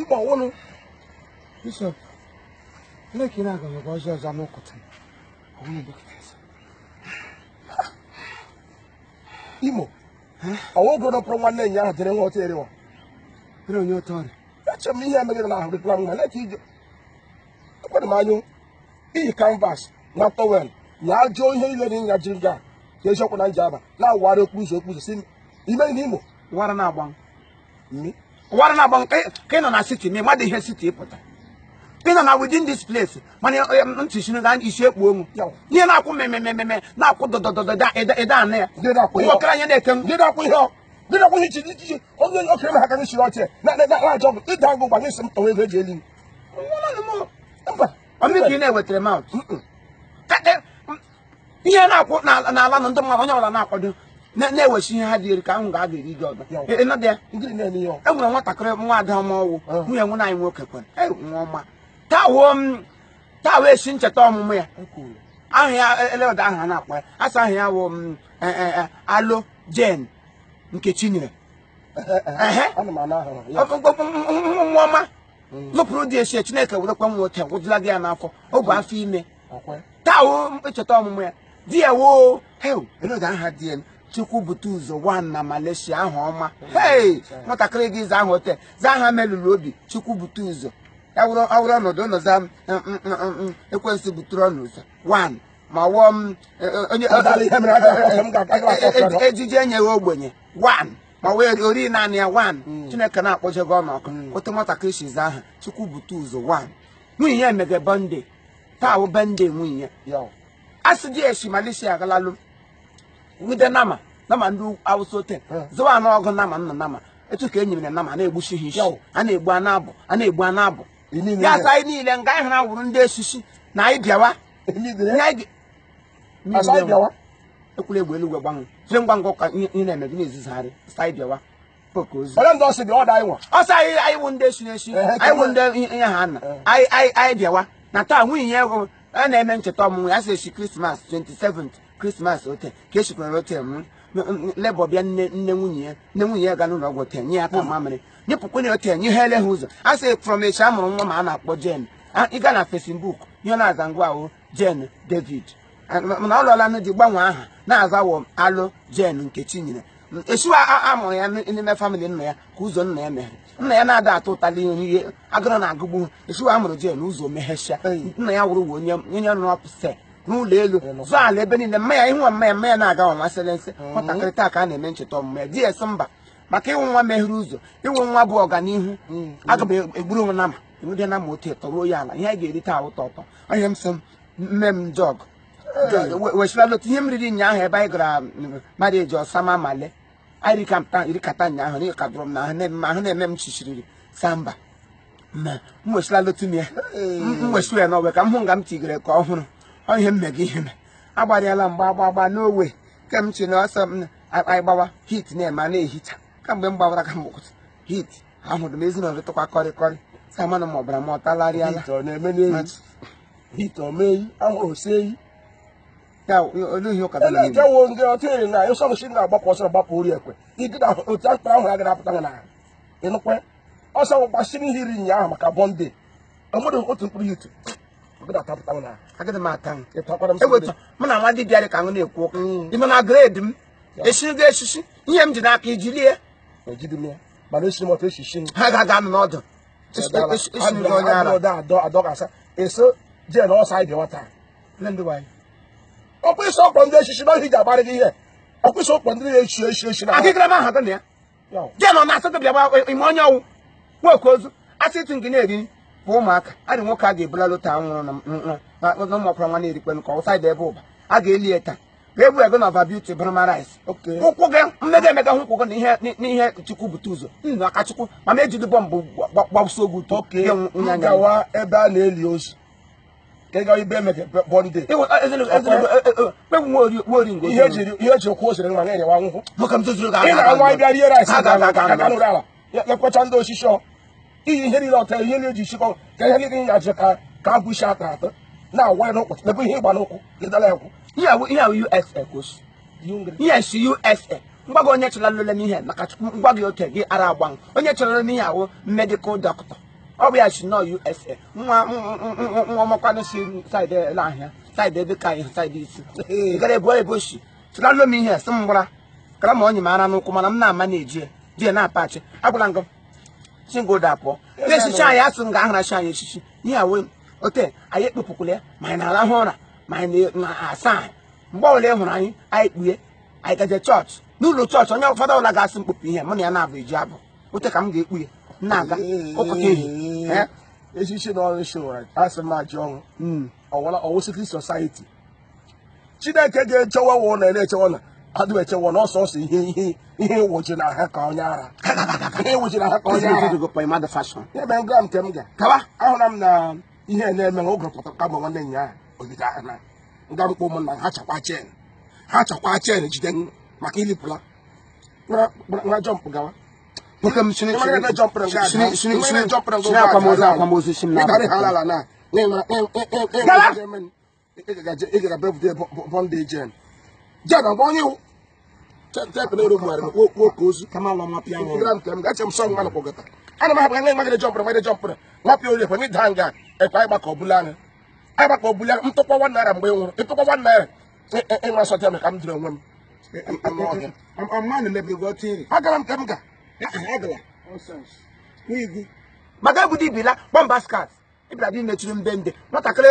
Igbo wụlụ bishop Chineke na-agọzikwa ọzọ ọzọ n'ụkọtụ ọwụlụ dọkịta eze. Imo ọwa oge dọpụrụ nwanne anyị ahụ jere nwa ọtọ erewa Bere onye ọtọ ọrịa. eche m ihe emegide na ahụ dịkwa mma na-eke ije ekwere m anyụ iyi canvas na towel ya ajụọ ihe niile dị nya jiri gaa ka eziokwu na Njaba na-awụgharị okpuru ụzọ okpuru ụzọ si ime n'imo Wara na-agba. ụwara na-agba nke ka ị nọ na city ma ị madị ihe city pụta ị nọ na within this place mana ntị si na isi ekpu onwu ihe na-akwụ mmemmemme na-akwụ dọdọdọdọ ede anụ ya nwoke anya na-ete m dịdakwa ihe chiri ichichi onye onye okenye ha ka gị chiri ọchị na-ajọ ọgụ ịda ọgụ gwa gị si m tọwa ego eji eli m mba ọ mụ ka ị na-ewetara mouth ihe na-akwụ n'ala na ndị mmadụ onye ọwụla na-akwado na-ewesi ihe ha dị eri ka ahụ ga a ga-eri gị ọga ịnọdụ ya e nwere nwatakịrị nwa ada ọma ọ wụ nwunye nwanne anyị nwoke kwere e, nwa ọma taa wuo taa wụ esi ncheta ọmụmụ ya aha ya e, eleweda aha a na-akpọ ya asa aha ya wụ Alo Jane Nkechinyere nwa ọma lụpụrụ di esi chineke werekwa nwoke gwụdịla gị ya n'afọ ọ bụ afọ ime taa wụ ncheta ọmụmụ ya di ya woo hel eloge aha di ya chukwu bute ụzọ one na Malaysia aha ọma hei nwatakịrị gị za aha ote za aha melụrụ obi chukwu bute ụzọ awụrụ ọnọdụ ụlọ za ekwensu butere ọnụ ụzọ one ma wụọ m ejiji enyeghị ogbenye one ma wụ ori naanị ya one Chineke na-akpọjego ọnụ ọkụ otu nwatakịrị shi za aha chukwu bute ụzọ one nwunye ya emege birthday taa wụ birthday nwunye ya a sị di esi Malaysia agalalụ nwude nama nama ndị Awụsa ote zụwa anụ ọgụ nama nna nama etu ka e nyere nama na-egbusi ha isi a na-egbu a na-abọ a na-egbu a na-abọ ya sị anyị niile nga anyị hara wụrụ ndị esisi na anyị bịawa ekwula egbe eluigwe gbanwe jiri ngwa ngwa ka ihe na-eme gị na-ezizigharị sị anyị bịawa onye ndị ọsị dị ọda anyị nwa ọsọ anyị anyị wụ ndị esi n'esi anyị wụ ndị ihe ha na anyị anyị anyị bịawa na taa nwunye ya ego a na-eme ncheta ọmụmụ ya sị esi krismas 27 krismas ote ka esikwere ote m labour bịa nne nne nwunye ya nne nwunye ya ga n'ụlọ ọgwụ ote nye ya ka mamịrị nyepụkwa na ote nye ha ele ha ụzọ a sị from esi a mụrụ nwa ọma a na-akpọ Jane ị ga na Facebook ihe na-aza nga ahụ Jane David mana ọ lụọla di gbanwee aha na-azawo alụ Jane Nkechinyere esiwa amụrụ ya n'ime famịlị nna ya ka ụzọ nna ya meghere nna ya na-ada atụ ụtali ihe agụrụ na-agụgbu esiwa amụrụ Jane ụzọ meghesịa nna ya wụrụ onye onye nọ n'ọpụse n'ụlọ elu zụọ ala ebe niile mma ya ịnwa mma ya mma ya na-aga ọnwa sịrị nsị mm-hmm. nwatakịrị taa ka a na-eme ncheta ọmụmụ ya di ya sị mba maka ị wụ nwa meghere ụzọ ị wụ nwa bụ ọganihu mm-hmm. aga m egburu nwa nama enweghị nama otu ụtọ ruo ya ala ihe a ga-eri taa ụtọ ụtọ onye m sị m mme m jog wechila lota ihe m riri ụnyaahụ ebe anyị gara mmadụ eji ọsama male anyị rikata ụnyaahụ na ịka dụrụ m na ahụ na-eme m chichiriri samba m wechila lota m ya m wechiwe ya n'ọwe ka m hụ nga m tigere ka ọhụrụ ọ ihe mmega ihe me agbarịala mgba agba agba n'owe ke m chi na ọsọ m anyị gbawa heat na-eme a na-ehicha kamgbe m gbawara ka m gbụkụta heat ahụrụ m ezi na ọdịtụkwa kọrịkọrị si amanụ ma ọbara m ọtalarịala heat ọ na-eme n'eyi heat ọ mee eyi ahụrụ si eyi ya olee ihe ụka dara ije wo ndị ọtụ eri na ịsọ nsị na-agbapụ ọsọ gbapụ ori ekwe ịdị na otu akpa ahụ agara apụta na ịnụkwe ọsọ gbasiri ihe iri nyaahụ maka birthday ọmụdụ otu mkpụrụ heat ọgụdatapụta na agịdị m ata m ịtọkwara m eweta mụ na nwa dibịa dị ka m na-ekwu ụka ime na grade m esigo esisi ihe m ji n'aka iji lie ejidị m ya mana esi m ọtụ esi shi m ha ga-aga anụ n'ọdụ isi ndị onye ara adọ adọ adọkasa eso jee na ọsọ anyị bịawa taa Nne ndị nwanyị. ọkwa ịsọ ọkpọ ndị echichi na ohi ji agbarị gị ihe ọkwa ịsọ ọkpọ ndị na-echi echi echi na akịkịrị ma ahụ na ya Ya ọ. jee nọ na asatọ bịa gba ime onye ọ wụ nwoke ozu asị ịtụ ngị na-eri bụ ụmụaka adị nwoke a ga-ebula lota nwụrụ na nwa na ụmụọkwara nwa na-erikpe nke ọ wụ saịdị ebe ụba a ga-eli ya taa egwu ego na ọva beauty bụrụ ma rice ụkwụ gị mmega emega hụ ụkwụ gị n'ihe chukwu bute ụzọ nna aka chukwu mana ejiri bọmbụ gbagbusi oge ụtọ gawa ebe a na-eli ozu ka ịga ebe emege birthday ihe jiri ụkwụ osiri ma na-enyewa nwụkwụ ị na-anwa ịbịa rie rice ya ya kwacha ndị osisi ọ iyi ihe niile ọta ihe niile eji sikọ ka ihe niile ya ji ka ka agwụ isi atọ atọ na-awa ya n'ụkwụ ebe ihe ịgba n'ụkwụ ịdala ya kwụ ihe awụ ihe awụ USA ka o si ihe si USA ngwa gị onye chọrọ lele n'ihe maka chukwu ngwa gị oke gị ara agbanwe onye chọrọ n'ihe awụ medical doctor ọ bụ ya si nọ USA nwa nwa ọmakwanụ si saịdị ele ahịa saịdị ebe ka anyị saịdị isi ị gara ebu ebe o si chụlalụ m ihe sị m gwara kara ma onye m ara n'ụkwụ mana m na-ama na-eji ya di ya na-apachị agwala ngọ si ngo da pụọ ndị echichi anyị asụ nga ahụra chi anyị echichi ihe a wụ ote anyị ekpupụkwala ya ma anyị na-arahụ ụra ma anyị na-asa ahụ mgbe ọbụla ị hụrụ anyị anyị kpughe anyị gaje chọọchị n'ụlọ chọọchị onye ụfọdụ ọbụla ga-asị m kpupụ ihe mụ na ya na-abụ eji abụ ote ka m ga-ekpu ya m na-aga ụpụta ehihie echichi na ọrụ showara asị m ajọ ọrụ ọwụsị kristo society chineke ga-echewa wa ụlọ na-echewa na adụ echewa na ọsọ ọsọ ihe ihe ihe ịwụji na ha ka onye ara ihe ịwụji na ha ka onye ara ebe ngwa nke m ga kawa ahụra m na ihe na-eme na oge pụta kama nwanne nya ahụ ogide ahụ na nga mkpọ ụmụnna ha chakwa chen ha chakwa chen jide maka ilipụla nwa jọmpụ gawa nwoke m sini akwamozu akwamozu si m na ịgaga bepụta bọndị jen jen ọgba onye iwu chepụta ero mmadụ okwu oke ozu kama ala nwa pịa nwụrụ gram kem gache m sọ nwa nkwọgọta ana m ahapụ anya magide jọmpụrụ magide jọmpụrụ nwa pịa onye kwenye daa nga ekwe anyị gbakọ ọbụla anya anyị gbakọ ọbụla anya ntụkwa nwa naira mgbe ị nwụrụ ịtụkwa nwa naira ịnwa sọtịa m ka m dịrị onwe m agara m ka m ga maka obodo ibila kpọmba skat ịbịara dị mechiri mbe ndị nwatakịrị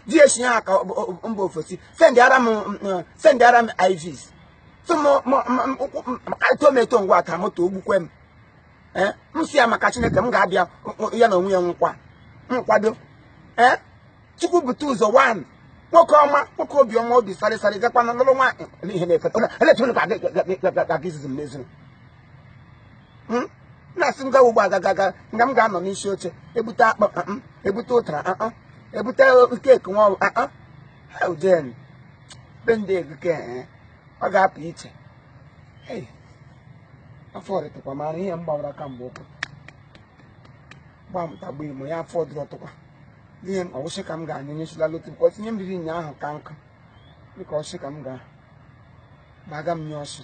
di esi ya ka mba ofesi sendịara m ivs so eto m eto ngwa aka moto ogbukwe m ee m sị ya maka chineke m ga-abịa ya na onwe ya nkwa nkwado ee chukwu bute ụzọ wan nwoke ọma nwoke obi ọma obi sarị sarị gakwanụ lụrụ nwaanyị ihe na-efeta eletụrụ gị izizi m n'ezinu hmm? na-asị m gawa ugbo agagaga nga m ga-anọ n'isi oche ebute akpụ ah, ah, ebute ụtara ah, ebute keeki nwa ọrụ jen be ndị egike eh, ọ ga-apụ iche afọ ọrịtụkwa mara ihe m gbawara kamgbe ụkwụ gbamta gba imo ya afọ dụrụ ọtụkwa ihe m ọ wụ sị ka m ga-anyụ nyesila lotu bukọta ihe m riri ụnyaahụ ka nkụ dịka ọ wụ sị ka m ga-agbaga m nye ọsị